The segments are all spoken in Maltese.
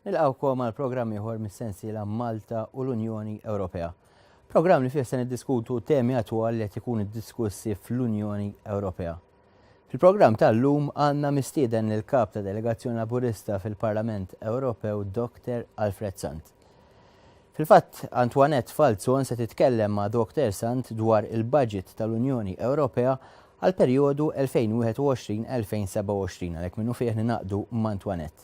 Nilqawkom għal programm ieħor mis-sensiela Malta u l-Unjoni Ewropea. Programm li fih se niddiskutu temi attwali li qed ikunu diskussi fl-Unjoni Ewropea. Fil-programm tal-lum għandna mistieden lill-Kap ta' Delegazzjoni Laburista fil-Parlament Ewropew Dokter Alfred Sant. Fil-fatt, Antoinette Falzon se titkellem ma' Dokter Sant dwar il-budget tal-Unjoni Ewropea għal perjodu 2021-2027 għalhekk minnu fih ninaqdu ma' Antoinette.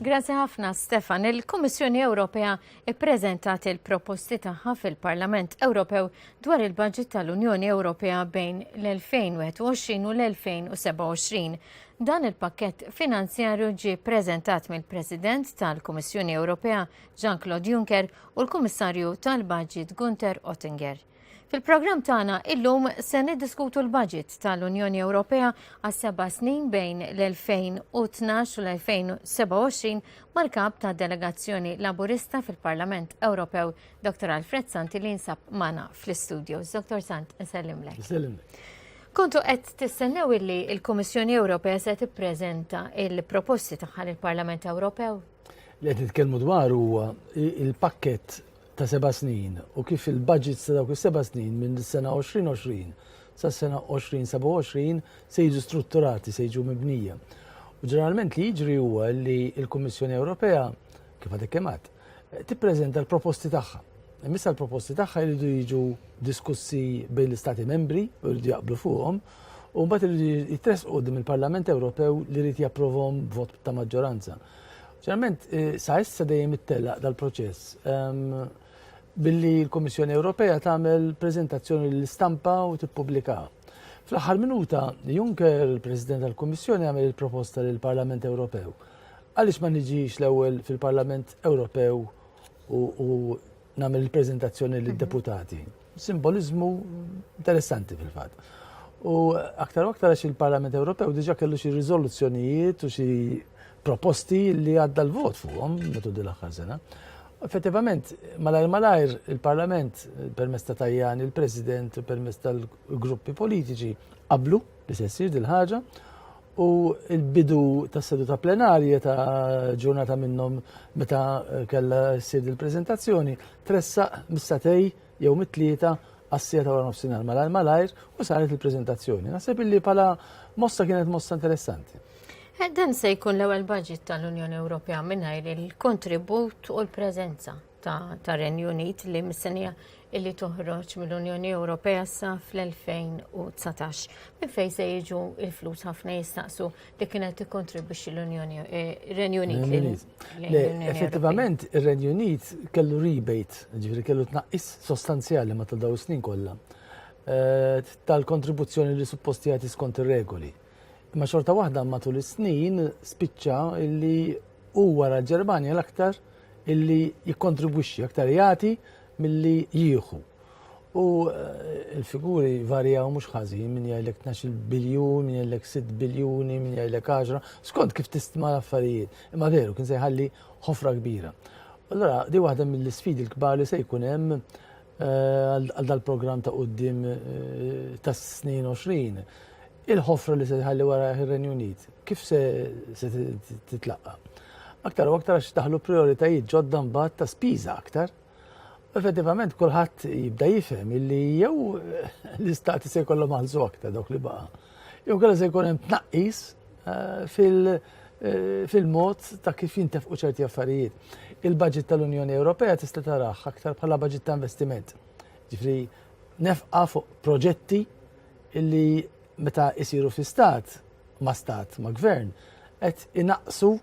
Grazzi ħafna Stefan. Il-Kummissjoni Ewropea ppreżentat il-proposti tagħha fil-Parlament Ewropew dwar il-budget tal-Unjoni Ewropea bejn l-2021 u l-2027. Dan il-pakkett finanzjarju ġie ppreżentat mill-President tal-Kummissjoni Ewropea Jean-Claude Juncker u l-Kummissarju tal-Budget Gunther Oettinger. Fil-programm tagħna illum se niddiskutu l-budget tal-Unjoni Ewropea għas seba' snin bejn l-2012 u l-2027 mal-kap ta' delegazzjoni Laburista fil-Parlament Ewropew, Dr. Alfred Santi li jinsab mana fl-istudios. Dr. Sant, nsellimlek. Nsellimlek. Kontu qed tistennew illi il-Kummissjoni Ewropea se tippreżenta il-proposti tagħha lill-Parlament Ewropew? Li qed nitkellmu dwar huwa il-pakkett ta' seba' snin u kif il-baġits ta' dawk is-seba' snin minn is-sena 2020 sas-sena 2027 se jiġu strutturati, se jiġu mibnija. U ġeneralment li jiġri huwa li l-Kummissjoni Ewropea, kif għadek kemm għad, tippreżenta l-proposti tagħha. Imissa l-proposti tagħha jridu jiġu diskussi bejn l-Istati membri u jridu jaqblu fuqhom u mbagħad jridu jitressqu dim il-Parlament Ewropew li jrid japprovhom b'vot ta' maġġoranza. Ġeneralment, sa issa dejjem ittellaq dal-proċess billi l-Kummissjoni Ewropea tagħmel preżentazzjoni l-istampa u tippubblikaha. Fl-aħħar minuta, Juncker, il-President tal-Kummissjoni, għamel il-proposta lill parlament Ewropew. Għaliex ma niġix l-ewwel fil-Parlament Ewropew u nagħmel il-preżentazzjoni lid-deputati? Simboliżmu interessanti fil-fatt. U aktar u aktar għax il-Parlament Ewropew diġa kellu xi riżoluzzjonijiet u xi proposti li għadda l-vot fuqhom metu din l-aħħar sena. Effettivament, malajr malajr il-Parlament permezz ta' Tajjan, il-President permezz tal-gruppi politiċi qablu li se ssir dil-ħaġa u l-bidu tas seduta plenarja ta' ġurnata minnhom meta kellha ssir il-preżentazzjoni tressaq mis-satej jew mit-tlieta għas-sija ta' wara nofsinhar malajr malajr u saret il-preżentazzjoni. Naħseb illi bħala mossa kienet mossa interessanti. Dan se jkun l-ewwel budget tal-Unjoni Ewropea mingħajr il-kontribut u l-preżenza tar-Renju Unit li mistennija illi toħroġ mill-Unjoni Ewropea sa fl-2019. Minn fejn se jiġu il-flus ħafna jistaqsu li kienet tikkontribwixxi l-Unjoni eh, Renju Unit. Effettivament ir-Renju Unit kellu rebate, ġifieri kellu tnaqqis sostanzjali ma ta' daw snin kollha eh, tal-kontribuzzjoni li supposti jagħti skont ir-regoli. Imma xorta waħda matul is-snin spiċċa illi hu wara l-Ġermanja l-aktar illi jikkontribwixxi aktar jagħti milli jieħu. U eh, il-figuri varjaw mhux ħażin minn jgħidlek 12 biljun, minn jgħidlek 6 biljuni, minn jgħidlek 10, skont kif tistma l-affarijiet. Imma veru kien se jħalli ħofra kbira. Allora, di waħda mill-sfidi l-kbar li se jkun hemm eh, għal dal-programm ta' qudiem eh, tas-snin 20 Il-ħofra li se jħalli wara ir-Renju Unit kif se titlaqqa? Aktar u aktar għax daħlu prioritajiet ġodda mbagħad ta' spiża aktar. Effettivament kulħadd jibda jifhem illi jew l-istati se jkollhom għalżu aktar dawk li baqa'. Jew kellha se jkun hemm tnaqqis eh, fil- eh, fil-mod ta' kif jintefqu ċerti affarijiet. Il-budget tal-Unjoni Ewropea tista' taraħ aktar bħala budget ta' investiment. Ġifri, nefqa fuq proġetti illi meta jsiru fi stat, ma' stat, ma' gvern, qed inaqsu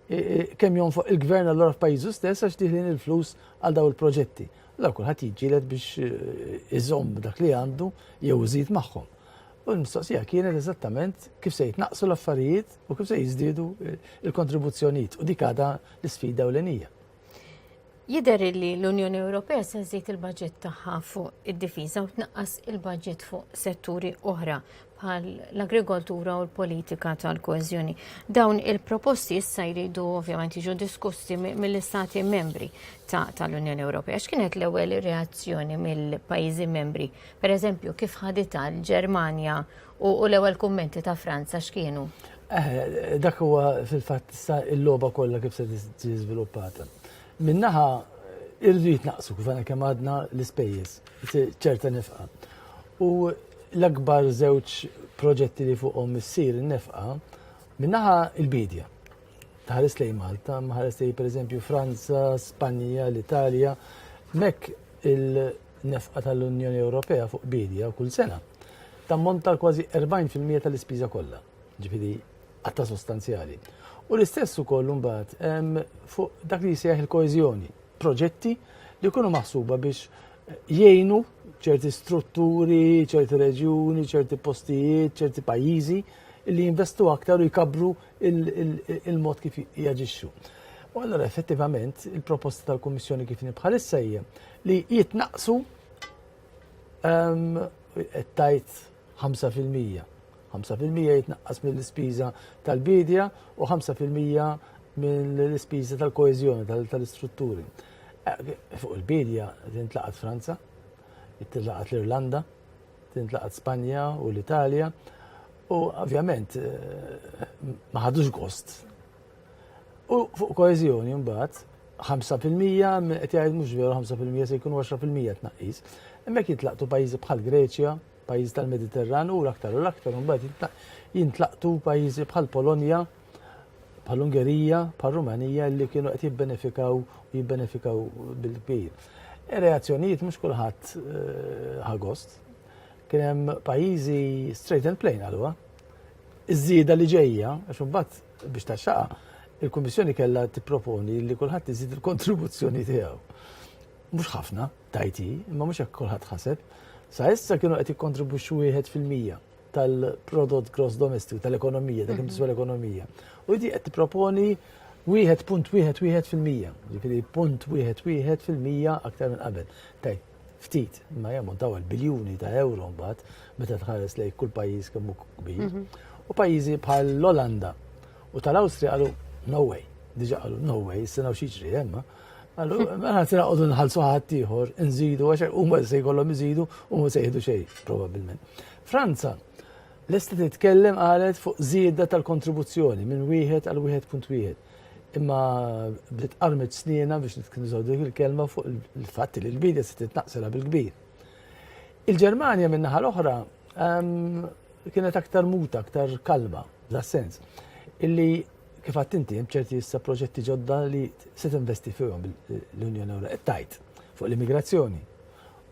kemm jonfoq il-gvern allura f'pajjiżu stess għax diħlin il-flus għal daw il-proġetti. Allora kulħadd jiġġieled biex eh, iżomm dak li għandu jew iżid magħhom. U l-mistoqsija kienet eżattament kif se jitnaqsu l-affarijiet u kif se jiżdiedu eh, il-kontribuzzjonijiet u dik għadha l-isfida ewlenija. Jidher li l-Unjoni Ewropea se żżid il-budget tagħha fuq id-difiża u tnaqqas il-budget fuq setturi oħra bħal l-agrikoltura u l-politika tal-koeżjoni. Dawn il-proposti issa jridu ovvjament jiġu diskussi mill-istati membri tal-Unjoni Ewropea. X'kienet l-ewwel reazzjoni mill-pajjiżi membri? Per eżempju, kif ħadita l-Ġermanja U l-ewwel kummenti ta' Franza x'kienu? Eh, dak huwa fil-fatt issa il-logħba kollha kif se tiġi żviluppata. Minnaħa irrid naqsu kif għana kemm għadna l-ispejjeż, ċerta nefqa. U l-akbar żewġ proġetti li fuqhom issir nefqa minnaħa il-bidja. Taħares lej Malta, maħares lej pereżempju Franza, Spanja, l-Italja, mek il- Nefqa tal-Unjoni Ewropea fuq biedja kull sena tammonta għal kważi 40 fil-mija tal-ispiża kollha, ġifieri qatta sostanzjali. U l-istess ukoll imbagħad ehm, fuq dak li jsejjaħ il-koeżjoni, proġetti li jkunu maħsuba biex jgħinu ċerti strutturi, ċerti reġjuni, ċerti postijiet, ċerti pajjiżi li jinvestu aktar u jkabru il-mod kif jaġixxu. U allora effettivament il-proposta tal-Kummissjoni kif nibħalissa hija li jitnaqsu tajt 5%. 5% jitnaqqas mill-ispiża tal-bidja u 5% mill-ispiża tal-koeżjoni tal-istrutturi. Eh, fuq il-bidja tintlaqat Franza, tintlaqat l-Irlanda, tintlaqat Spanja u l-Italja. U ovvjament eh, ma ħadux gost U fuq koeżjoni mbagħad 5% qed jgħid mhux veru 5% se jkunu 10% tnaqqis. Hemmhekk jitlaqtu pajjiżi bħal Greċja, pajjiżi tal-Mediterran u l-aktar u l-aktar mbagħad jintlaqtu pajjiżi bħal Polonja, bħal Ungerija, bħal Rumanija li kienu qed jibbenefikaw u jibbenefikaw bil-kbir. Ir-reazzjonijiet mhux kulħadd eh, ħagost. Kien hemm pajjiżi straight and plain għalwa. Iż-żieda li ġejja, għax imbagħad Biex taxxaqa, il-Kummissjoni kellha tipproponi li kulħadd iżid il-kontribuzzjoni tiegħu. Mhux ħafna, tajti, imma mhux hekk kulħadd ħaseb. Sa issa kienu qed jikkontribwixxu wieħed fil-mija tal-prodott gross domestic tal-ekonomija, dak imtiswa mhm. l-ekonomija. U di qed tipproponi wieħed punt wieħed wieħed fil-mija, ġifieri punt wieħed wieħed fil-mija aktar minn qabel. Tajt, ftit, imma jammontaw għal biljuni ta' euro mbagħad meta tħares lejn kull pajjiż kemm hu kbir. Mhm. U pajjiżi bħal l-Olanda u tal-Awstrija qalu no way, diġa qalu no way, s-sena u xieġri jemma. Għallu, għana t-sena għodu nħalsu ħadd ieħor, nżidu, għax u ma se jkollhom iżidu u ma se jihdu xejn, probabbilment. Franza, l-esti titkellem qalet fuq żieda tal-kontribuzzjoni minn wieħed għal wieħed punt wieħed. Imma bdiet qarmet snienha biex nitkinżgħu dik il-kelma fuq il-fatt li l-bidja se titnaqsilha bil-kbir. Il-Ġermanja min-naħa l-oħra ehm, kienet aktar muta, aktar kalma, da sens. Illi kif għatt inti hemm ċerti issa proġetti ġodda li se tinvesti fihom l-Unjoni Ewropea tajt fuq l-immigrazzjoni,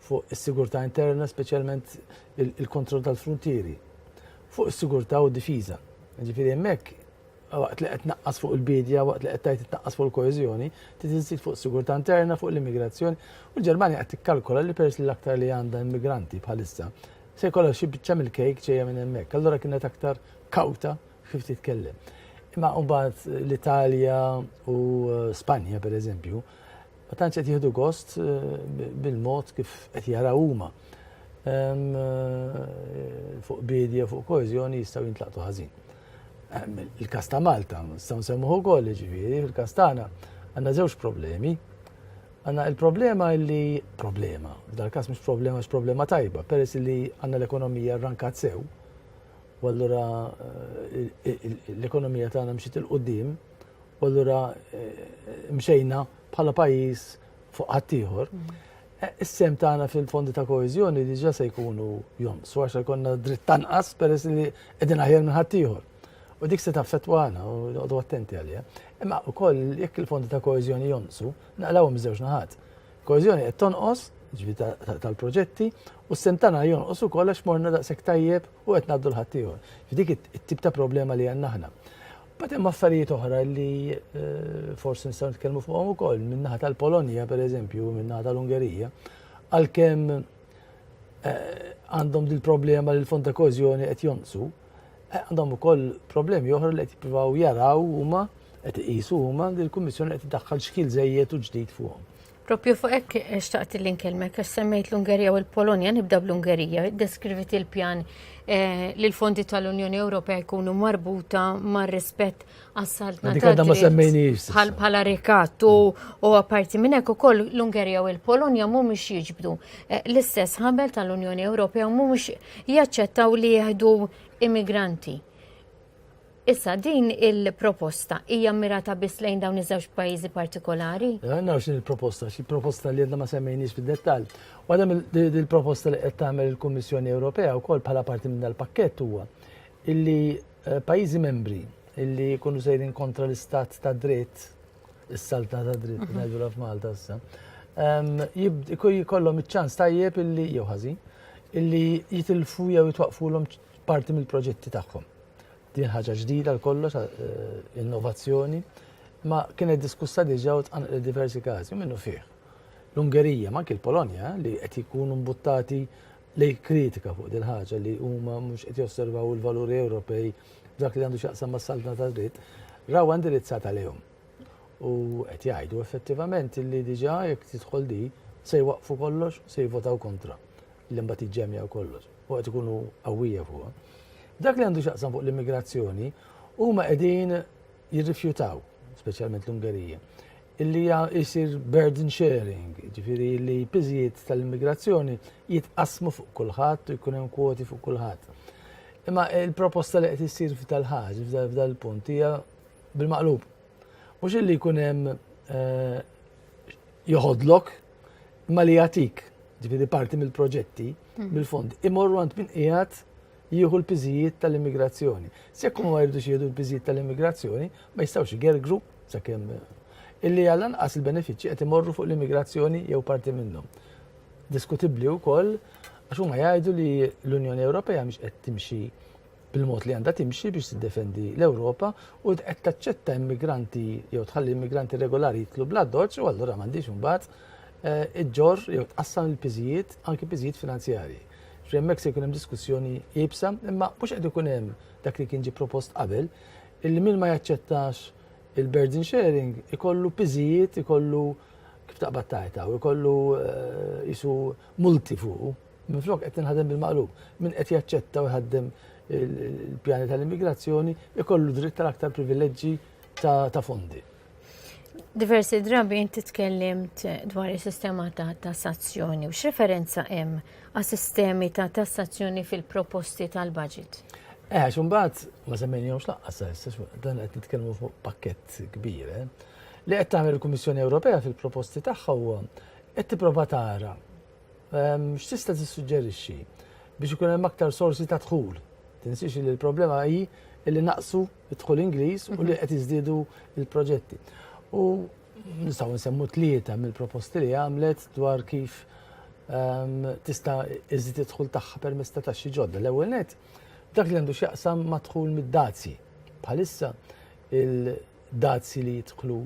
fuq is-sigurtà interna, speċjalment il-kontroll tal-frontieri, fuq is-sigurtà u d-difiża. Ġifieri hemmhekk waqt li qed tnaqqas fuq il-bidja, waqt li qed tgħid tnaqqas fuq il-koeżjoni, trid iżżid fuq sigurtà interna, fuq l-immigrazzjoni. U l-Ġermanja qed tikkalkola li peress li l-aktar li għandha immigranti bħalissa, se jkollha xi biċċa mill-kejk ġejja minn hemmhekk. Allura kienet aktar kawta kif titkellem. Imma mbagħad l-Italja u eh, Spanja, pereżempju, Ma tantx qed jieħdu gost bil-mod kif qed jaraw huma. Fuq bidja, fuq koeżjoni jistgħu jintlaqtu ħażin. Il-kas ta' Malta, nistgħu nsemmuh ukoll, ġifieri, fil-kas tagħna għandna żewġ problemi. Għanna il-problema li problema, f'dal kas mux problema x'problema tajba, peress li għanna l-ekonomija rankat sew, u allura l-ekonomija tagħna mxiet il-qudiem u allura mxejna bħala pajjiż fuq ħaddieħor. Eh, is-sem tagħna fil-fondi ta' koeżjoni diġà se jkunu jonqsu għax jkollna dritt tanqas peress li qegħdin aħjar minn ħaddieħor. U dik se taffettwa għana u noqgħdu attenti għalija. Imma wkoll jekk il-fondi ta' koeżjoni jonqsu, naqlawhom żewġ naħat. Koeżjoni qed tonqos, jiġifieri tal-proġetti, u s-sehem tagħna jonqos ukoll għax morna daqshekk tajjeb u qed ngħaddu l-ħaddieħor. Dik it-tip ta' problema li għandna aħna. Bad hemm affarijiet oħra li eh, forsi nistgħu nitkellmu fuqhom ukoll min-naħa tal-Polonja pereżempju, min-naħa tal-Ungerija, għalkemm eh, għandhom dil-problema li l-fond ta' kożjoni qed jonqsu, Eh, għandhom ukoll problemi oħra li qed jippruvaw jaraw huma qed iqisu huma li l-Kummissjoni qed iddaħħal xkil żejjed u ġdid fuqhom. Propju fuq hekk eh, xtaqt li nkellmek għax semmejt l-Ungerija u l-Polonja nibda bl-Ungerija, deskrivit il-pjan eh, li l-fondi tal-Unjoni Ewropea jkunu marbuta mar-rispett Għassalt natat. Bħal bħala rikat u għaparti minnek u koll l-Ungerija u l-Polonja mu mux jġbdu. Eh, l-istess ħabel tal-Unjoni Ewropea mu mux jaċċettaw li jihdu immigranti. Issa din il-proposta hija mirata biss lejn dawn iż-żewġ pajjiżi partikolari? Għanna xin il-proposta, xi proposta li għedna ma semmejniex fid-dettall. Għadam il-proposta li qed tagħmel il-Kummissjoni Ewropea wkoll bħala parti minn dal-pakkett huwa illi Eh, pajjiżi membri illi jkunu sejrin kontra l-istat ta' dritt, is-salta ta' dritt, mhm. ngħidulha f'Malta issa, jkollhom iċ-ċans tajjeb illi jew ħażin illi jitilfu jew jitwaqfulhom parti mill-proġetti tagħhom. Din ħaġa ġdida l-kollox, eh, innovazzjoni, ma kienet diskussa diġà u tqanqlet diversi każi minnu fih. L-Ungerija, ma anke l-Polonja, li qed jkunu mbuttati li jikkritika fuq dil-ħaġa li huma mhux qed josservaw il-valuri Ewropej f'dak li għandu x'jaqsam mas-saltna tad-dritt, rawha indirizzata lejhom. U qed jgħidu effettivament li diġà jekk tidħol di se jwaqqfu kollox, se jivvotaw kontra li mbagħad jiġġemja kollox. U qed ikunu qawwija fuqha. Dak li għandu x'jaqsam fuq l-immigrazzjoni huma qegħdin jirrifjutaw, speċjalment l-Ungerija, Illi jisir burden sharing, ġifiri li piżijiet tal-immigrazzjoni jitqasmu fuq kulħadd u jkun hemm kwoti fuq kulħadd. Imma il-proposta li qed issir f'dal-ħaġ, f'dal-punt hija bil-maqlub. Mhux illi jkun hemm eh, joħodlok imma li jagħtik, ġifiri parti mill-proġetti, mhm. mill-fond, imorru għand min qiegħed jieħu l-piżijiet tal-immigrazzjoni. Se jekk huma ma jridux jieħdu l-piżijiet tal-immigrazzjoni, ma jistgħux igergru sakemm illi għall-anqas il-benefiċċji qed imorru fuq l-immigrazzjoni jew parti minnhom. Diskutibbli wkoll għax huma jgħidu li l-Unjoni Ewropea mhix qed timxi bil-mod li għandha timxi biex tiddefendi l-Ewropa u qed taċċetta immigranti jew tħalli immigranti regolari jitlu bla doċ u allura m'għandix imbagħad eh, iġġor jew tqassam il-piżijiet anki piżijiet finanzjarji. Ġifieri hemmhekk se jkun hemm diskussjoni iebsa, imma mhux qed ikun hemm dak li kien ġie propost qabel, illi min ma jaċċettax il-burden sharing ikollu piżijiet, ikollu kif taqbad tajta u jkollu jisu eh, multi fuqu. Minflok qed tinħadem bil-maqlub. Min qed jaċċetta u jħaddem il-pjani tal-immigrazzjoni ikollu dritt tal-aktar privileġġi ta' fondi. Diversi drabi inti tkellimt dwar is-sistema ta' tassazzjoni u x'referenza hemm għas sistemi ta' tassazzjoni fil-proposti tal-budget? Eh, xumbat, ma semmen jom xlaqqas, dan qed nitkellmu fuq pakket kbir, eh. li qed tagħmel il-Kummissjoni Ewropea fil-proposti tagħha huwa qed tipprova tara ehm, x'tista' tissuġġerixxi biex ikun hemm aktar sorsi ta' dħul. Tinsiex li l-problema hi li naqsu id-dħul Ingliż u li qed jiżdiedu l-proġetti. U nistgħu nsemmu tlieta mill-proposti li għamlet dwar kif ehm, tista' iżid id-dħul tagħha permezz ta' taxxi ġodda. L-ewwel net, dak li għandu x'jaqsam ma' dħul mid-dazji. Bħalissa il-dazji li jidħlu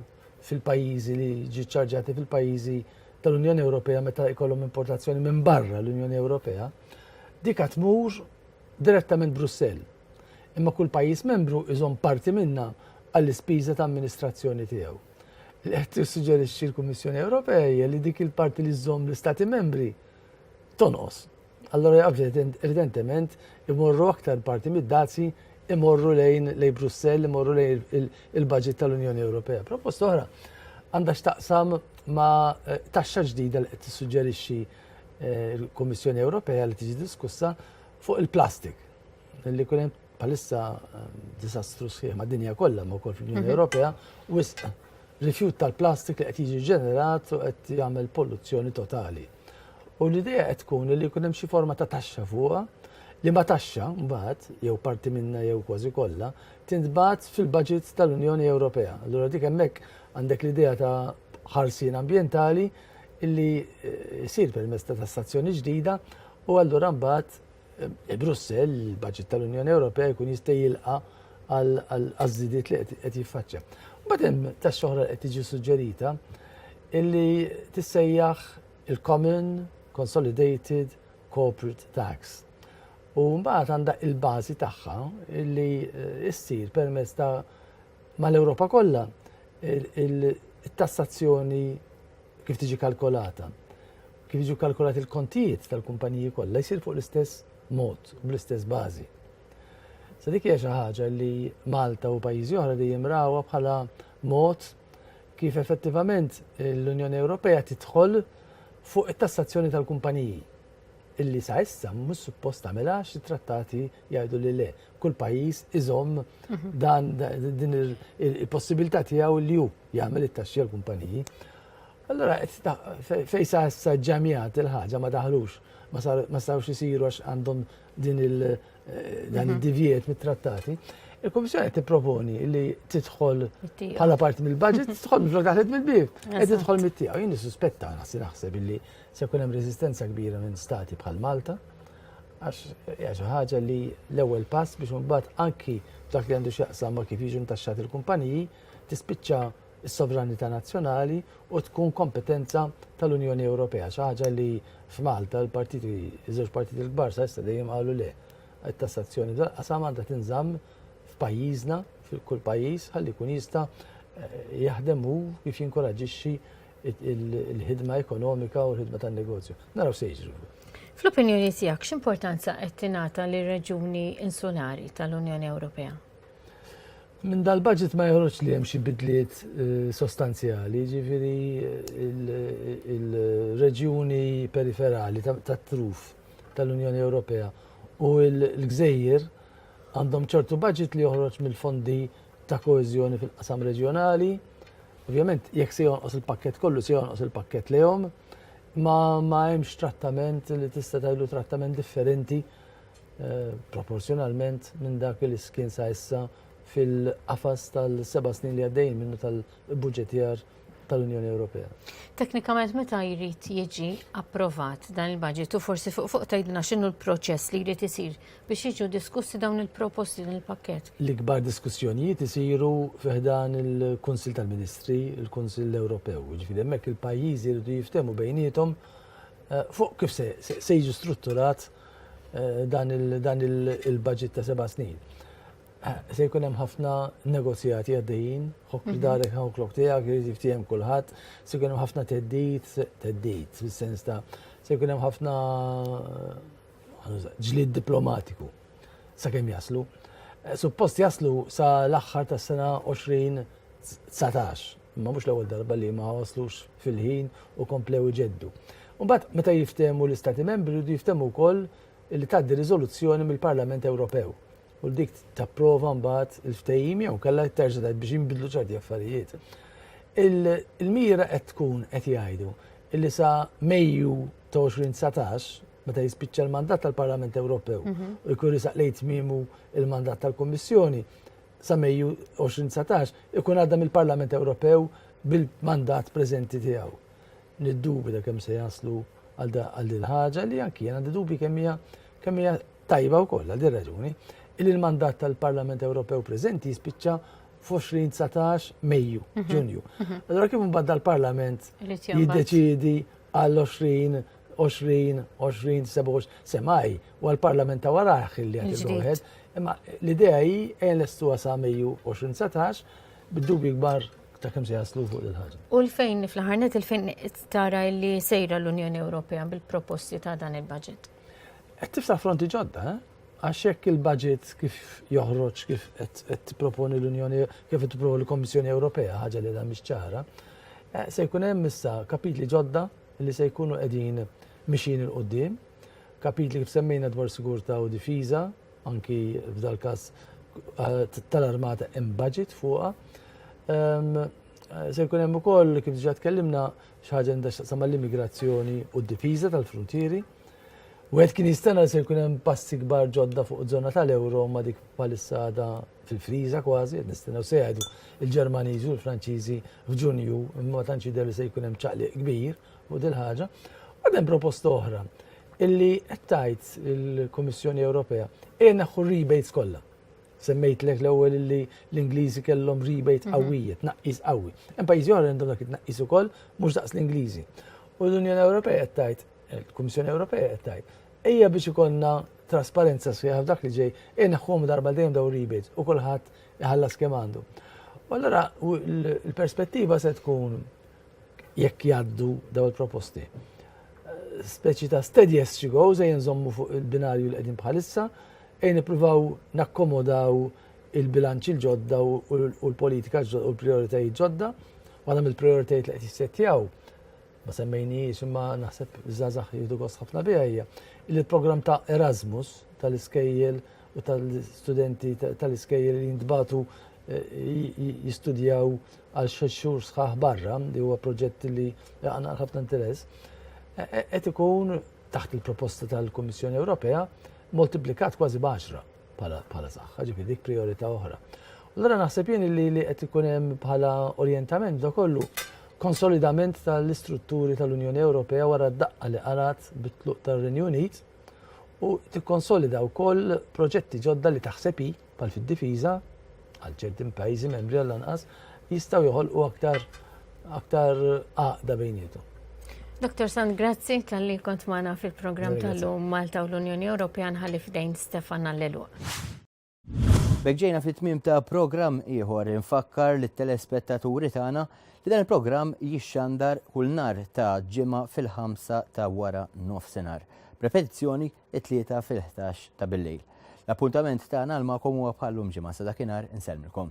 fil-pajjiżi li ġiċċarġati fil-pajjiżi tal-Unjoni Ewropea meta jkollhom importazzjoni minn barra l-Unjoni Ewropea, dik tmur direttament Brussell, imma kull pajjiż membru jżomm parti minnha għall-ispiża ta' amministrazzjoni tiegħu. Li qed tissuġġerixxi l-Kummissjoni Ewropea hija li dik il-parti li żżomm l-Istati membri tonqos. Allora evidentement imorru aktar parti mid-dazji imorru lejn lejn Brussell, imorru lejn il-budget tal-Unjoni Ewropea. Proposta oħra għandha x'taqsam ma' eh, taxxa ġdida li qed tissuġġerixxi Eh, il-Kummissjoni Ewropea li tiġi diskussa fuq il-plastik. Li kunem palissa eh, disastru sħiħ ma' dinja kollha ma' wkoll fl-Unjoni mhm. Ewropea wisq rifjut tal-plastik li qed jiġi ġenerat u qed jagħmel polluzzjoni totali. U l-idea qed tkun li jkun hemm xi forma ta' taxxa fuqha li ma taxxa mbagħad jew parti minna jew kważi kollha tintbagħat fil-budget tal-Unjoni Ewropea. Allura dik hemmhekk għandek l-idea ta' ħarsien ambjentali li jsir permezz ta' tassazzjoni ġdida u allura mbagħad eh, Brussell, il-budget tal-Unjoni Ewropea jkun jista' jilqa' għal-żidiet li qed jiffaċċja. Mbagħad hemm tax-xoħra qed tiġi suġġerita illi tissejjaħ il-Common Consolidated Corporate Tax. U mbagħad għandha il-bażi tagħha illi eh, issir permezz ta' Mal-Ewropa kollha il-tassazzjoni kif tiġi kalkolata, kif jiġu kalkolati l-kontijiet tal-kumpaniji kollha jsir fuq l-istess mod, bl-istess bażi. Sa dik hija xi ħaġa li Malta u pajjiżi oħra dejjem rawha bħala mod kif effettivament l-Unjoni Ewropea tidħol fuq it-tassazzjoni tal-kumpaniji. illi sa issa mhux suppost tagħmilha għax it-trattati jgħidu li le. Kull pajjiż iżomm mhm. dan din il-possibilità tiegħu li hu jagħmel it-taxxi għal kumpaniji. Allora fejn sa issa ġamijat il-ħaġa ma daħlux ma sarux isiru għax għandhom din il- eh, dan mhm. id-divjet mit-trattati. Il-Komissjoni qed tipproponi li tidħol bħala parti mill-budget, tidħol mill-flok daħlet mill-bib, qed tidħol mit-tiegħu. Jien nissuspetta nasi naħseb illi Se jkun hemm reżistenza kbira minn stati bħal Malta għax hija xi ħaġa li l-ewwel pass biex imbagħad anki dak li għandu x'jaqsam ma kif jiġu ntaxxati l-kumpaniji tispiċċa s-sovranità nazzjonali u tkun kompetenza tal-Unjoni Ewropea. Xi ħaġa li f'Malta l-partiti, iż-żewġ partiti l-kbar sa issa dejjem qalu le. It-tassazzjoni dal-qasam għandha tinżamm f'pajjiżna, fil-kull pajjiż, ħalli jkun jista' eh, jaħdem hu kif jinkoraġixxi il-ħidma ekonomika u l-ħidma tan-negozju. Naraw se jiġri. Fl-opinjoni tiegħek x'importanza qed tingħata lir-reġuni insulari tal-Unjoni Ewropea? Minn dal-budget ma joħroġ li hemm xi bidliet eh, sostanzjali, ġifieri eh, il-reġjuni periferali tat-truf tal-Unjoni Ewropea u l-gżejjer għandhom ċertu budget li joħroġ mill-fondi ta' koeżjoni fil-qasam reġjonali. Ovvjament, jekk se jonqos il-pakkett kollu, se jonqos il-pakkett lejhom, ma ma hemmx trattament li tista' tgħidu trattament differenti eh, proporzjonalment minn dak li kien sa issa fil-qafas tal-seba' snin li għaddejjin minnu tal-budgetjar tal-Unjoni Ewropea. Teknikament meta jrid jiġi approvat dan il-budget u forsi fuq fuq tgħidilna x'inhu l-proċess li jrid isir biex jiġu diskussi dawn il-proposti din il-pakkett. L-ikbar diskussjonijiet isiru fiħdan il-Kunsill tal-Ministri, il-Kunsill Ewropew, ġifieri hemmhekk il-pajjiżi jridu jiftehmu bejniethom eh, fuq kif se jiġu strutturat eh, dan il-budget ta' seba' snin. Se jkun hemm ħafna negozjati għaddejjin, ħok mhm. darek ħok lok tiegħek irid jiftiehem kulħadd, se jkun hemm ħafna teddit, teddit fis-sens ta' se jkun hemm ħafna eh, ġlid diplomatiku sakemm jaslu. Eh, suppost jaslu sa l-aħħar tas-sena 2019, imma mhux l-ewwel darba li ma waslux fil-ħin u komplew iġeddu. Mbagħad meta jiftehmu l-Istati Membri jridu jiftehmu wkoll li tgħaddi riżoluzzjoni mill-Parlament Ewropew u dik tapprova mbagħad il-ftehim jew kellha terġa' tgħid biex jinbidlu ċerti affarijiet. Il-mira qed tkun qed jgħidu illi sa Mejju ta' 2019 meta jispiċċa l-mandat tal-Parlament Ewropew mhm. u jkun risaq lejn tmiemu il-mandat tal-Kummissjoni sa Mejju 2019 ikun għadda mill-Parlament Ewropew bil-mandat preżenti tiegħu. Niddubi da kemm se jaslu għal din ħaġa li anki għandi dubi kemm hija kemm hija Tajba wkoll għal din raġuni li l-mandat tal-Parlament Ewropew preżenti jispiċċa f'2019 Mejju, mhm. Ġunju. Mhm. Allora kif mbagħad dal-Parlament jiddeċiedi għall-20 20, 20, 27, semaj, u għal-parlament ta' waraħ li għad il Imma l-idea hi għen l-estu għasa Mejju 2019, bid-dubi gbar ta' kem se jaslu fuq il-ħagġa. U l-fejn fl-ħarnet il-fejn tara li sejra l-Unjoni Ewropea bil-proposti ta' dan il-budget? Qed tiftaħ fronti ġodda, eh? Għax hekk il-budget kif joħroġ kif qed tipproponi l-Unjoni kif qed tipproponi l-Kommissjoni Ewropea ħaġa li mhix ċara, eh, se jkun hemm issa kapitli ġodda li se jkunu qegħdin mixin il qudiem kapitli kif semmejna dwar sigurtà u difiża, anki f'dal-każ eh, tal-armata hemm budget fuqha. Ehm, eh, se jkun hemm ukoll kif diġà tkellimna xi ħaġa għandha x'taqsam mal-immigrazzjoni u d-difiża tal-fruntieri. Wieħed kien jistenna li se jkun hemm passi kbar ġodda fuq żona tal-euro ma dik bħalissa għadha fil-friża kważi, qed nistennew se jgħidu il-Ġermaniżi u l-Franċiżi f'Ġunju, imma ma tantx jidher li se jkun hemm ċaqliq kbir fuq dil ħaġa. Għad hemm proposta oħra illi qed tgħid il-Kummissjoni Ewropea ejja naħħu rebates kollha. Semmejtlek l-ewwel illi l-Ingliżi kellhom rebate mhm. qawwija, tnaqqis qawwi. Hemm pajjiżi oħra għandhom dak it-tnaqqis ukoll mhux daqs l-Ingliżi. U l-Unjoni Ewropea qed tgħid, il-Kummissjoni Ewropea qed tgħid, ejja biex ikollna trasparenza sħiħa f'dak li ġej, inħħom darba dejjem daw rebates u kulħadd iħallas kemm għandu. U allura l-perspettiva se tkun jekk jaddu daw il-proposti. Speċi ta' steady as she goes, ejja nżommu fuq il-binarju li qegħdin bħalissa, Ejn nippruvaw nakkomodaw il-bilanċi l-ġodda u l-politika ġodda u l-prioritajiet ġodda. Waħda mill-prioritajiet li qed jissettjaw ma semmejniex imma naħseb żgħażagħ jieħdu gost ħafna biha hija li l-programm ta' Erasmus tal-iskejjel u tal-studenti tal-iskejjel li jintbatu eh, jistudjaw għal xhur sħaħ barra li huwa proġett li għandna ħafna interess eh, eh, qed ikun taħt il-proposta tal-Kummissjoni Ewropea moltiplikat kważi b'għaxra bħala saħħa, ġifi dik priorità oħra. Allora naħseb jien li li qed ikun hemm bħala orjentament da kollu konsolidament tal-istrutturi tal-Unjoni Ewropea wara d-daqqa li qarat bit-tluq tar-Renju Unit u tikkonsolida wkoll proġetti ġodda li taħseb bħal fid-difiża, għal ċertin pajjiżi membri għal anqas, jistgħu joħolqu aktar aktar għaqda bejnietu. Dr. Sand, grazzi tal-li kont maħna fil-program tal-lum Malta u l-Unjoni Ewropea nħalli f'dejn Stefan Allelu. Begġejna fit-tmim ta' program ieħor infakkar li telespettaturi tagħna li dan il-program jixxandar kull nar ta' ġimgħa fil-ħamsa ta' wara nofsinhar. Prepetizzjoni it-Tlieta fil-ħdax ta' bil-lejl. L-appuntament tagħna għal magħkom huwa bħal lum ġimgħa sa dakinhar insellmilkom.